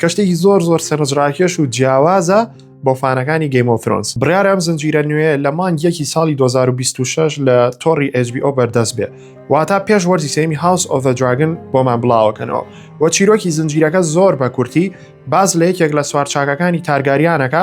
کە شتێکی زۆر زۆر سەرنجڕاکێش و جیاوازە بۆ فانەکانی گەیمۆفرۆنس بڕیار ئەم زنجیرە نوێ لە مانگ یەکی ساڵی 2026 لە تۆڕی HBO بەردەست بێ واتا پێش وەرزی سێمی هاوس ئۆڤ دراگن بۆمان بڵاوەکەنەوە و چیرۆکی زنجیرەکە زۆر بە کورتی باز لە یەکێک لە سوارچاکەکانی تارگاریانەکە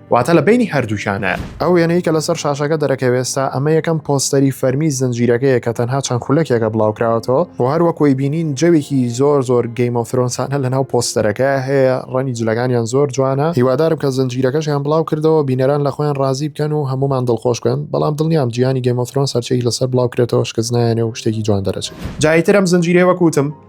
واتە لە بەینی هەردووکیانە. ئەو وێنەی کە لەسەر شاشەکە دەرەکەوێ ئێستا، ئەمە یەکەم پۆستەری فەرمی زنجیرەکەیە کە تەنها چەند خولەکێکە بڵاوکراوەتەوە و هەر وەک وەی بینین جەوێکی زۆر زۆر گەیم ئۆف ثرۆنسانە لەناو پۆستەرەکە هەیە، ڕەنگی جلەکانیان زۆر جوانە، هیوادارم کە زنجیرەکەشیان بڵاوکردەوە بینەران لە خۆیان ڕازی بکەن و هەموومان دڵخۆش بکەن، بەڵام دڵنیام جیهانی گەیم ئۆف ثرۆنس هەرچییەکی لەسەر بڵاوکرێتەوە شکست نایەنێ و شتێکی جوان دەرەچێ. جاریتر ئەم زنجیرەی وەک وتم.